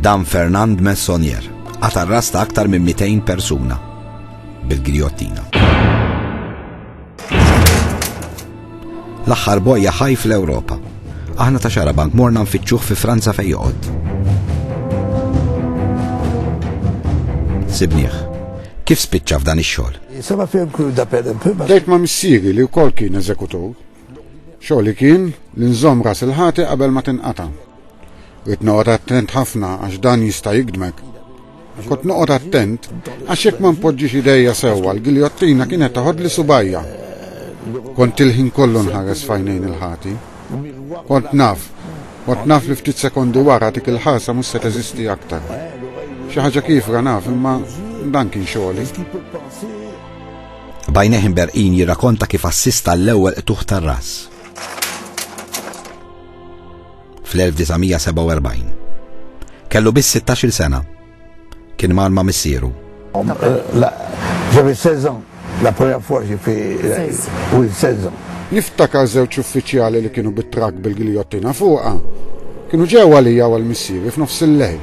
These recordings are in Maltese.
Dan Fernand Messonier għat arrasta aktar minn 200 persuna bil-grijottina. L-aħħar bojja ħaj fl-Ewropa. Aħna ta' xara bank morna nfittxuh fi Franza fej joqgħod. Sibnieh, kif spiċċa f'dan ix-xogħol? Sema fil-kur da per Dejt ma' missieri li wkoll kien eżekutur, Xogħli kien li nżomm ras il-ħati qabel ma tinqata'. Rrid noqgħod attent ħafna għax dan jista' jikdmek. Kont noqgħod attent għax jekk ma npoġġix idejja sewwa l-giljottina kienet taħodli subajja. Kont il-ħin kollu nħares fajnejn il-ħati. Kont naf, kont naf li ftit sekondi wara dik il-ħarsa mhux se teżisti aktar. Xi ħaġa kifra naf imma dan kien xogħli. B'għajnejh imberqin jirrakonta kif assista l-ewwel qtuħ tar-ras. Fl-1947. Kellu biss 16-il sena. Kien mar ma' missieru. J'avais 16 ans la première fois j'ai fait oui 16 ans. Niftakar żewġ uffiċjali li kienu bit-trakk bil-giljottina fuqha. Kienu ġew għalija u għal missieri f'nofs il-lejl.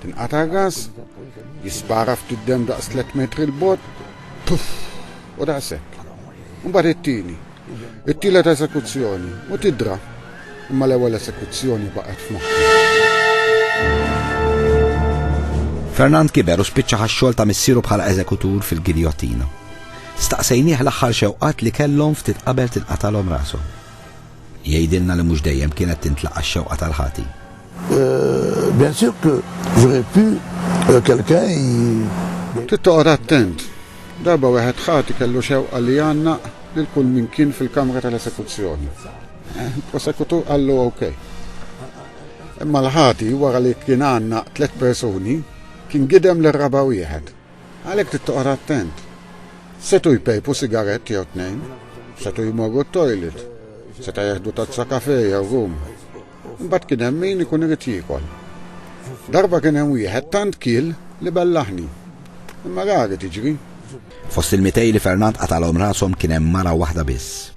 Tinqata' gas, jispara ftit demm daqs tliet metri 'l bogħod, puff! u daqshekk. Imbagħad it-tieni, it-tielet eżekuzzjoni, u tidra. Imma l-ewwel eżekuzzjoni baqgħet f'moħħi. Fernand kiber u spiċċa ħa x-xogħol ta' missieru bħala eżekutur fil-giljottina. Staqsejnieh l-aħħar xewqat li kellhom ftit qabel tinqatagħlhom rashom. Jgħidilna li mhux dejjem kienet tintlaqa' x-xewqa tal-ħati. Bien sûr que j'aurais pu quelqu'un y. Trid toqgħod attent. Darba wieħed ħati kellu xewqa li jgħannaq lil kull min kien fil-kamra tal-esekuzzjoni. Il-prosekutur qallu ok. Imma l-ħati wara li kien għannaq tliet persuni, kien gidem lir-raba' wieħed. Għalhekk trid toqgħod attent. Setgħu jpejpu sigarett jew tnejn, setgħu jmorru t-toilet, seta' jeħdu tazza kafè jew rum. Imbagħad kien hemm min ikun irid jiekol. Darba kien hemm wieħed tant kiel li bellaħni. Imma rari tiġri. Fost il-mitej li Fernand qatalhom rashom kien hemm mara waħda biss.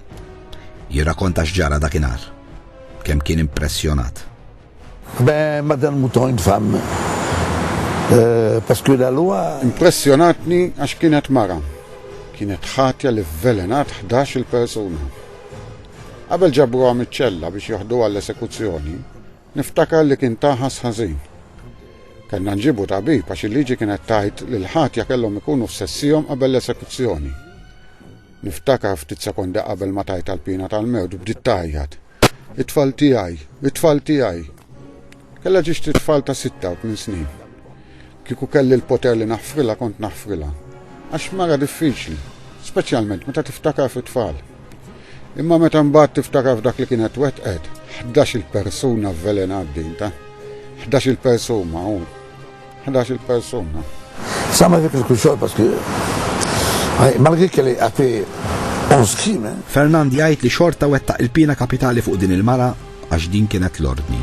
Jirrakonta x'ġara dakinhar. Kemm kien impressjonat. Ben, madan mouton une femme. Parce que la loi. Impressjonatni għax kienet mara. Kienet ħatja li vvelenat ħdax-il persuna. Qabel ġabruha miċ-ċella biex joħduha l-esekuzzjoni, niftakar li kien taħas ħażin. Kellna nġibu tabib għax il-liġi kienet tgħid li l-ħatja kellhom ikunu f'sessihom qabel l-esekuzzjoni. Niftakar ftit sekondi qabel ma tajt tal-pina tal-mewt bdiet tajjat. It-tfal tiegħi, it-tfal tiegħi! Kellha tixtri t-tfal ta' sitta u tmien snin. Kieku kelli l-poter li naħfrilha kont naħfrilha. Għax mara diffiċli, speċjalment meta tiftakar fit-tfal. Imma meta mbagħad tiftakar f'dak li kienet wettqet, ħdax-il persuna vvelenat din ta'. Ħdax-il persuma u. 11 il-persuna. Sama dik il-kuxol paski. Malgi kelli għafi on skime. Fernand jgħid li xorta wetta il-pina kapitali fuq din il-mara għax din kienet l-ordni.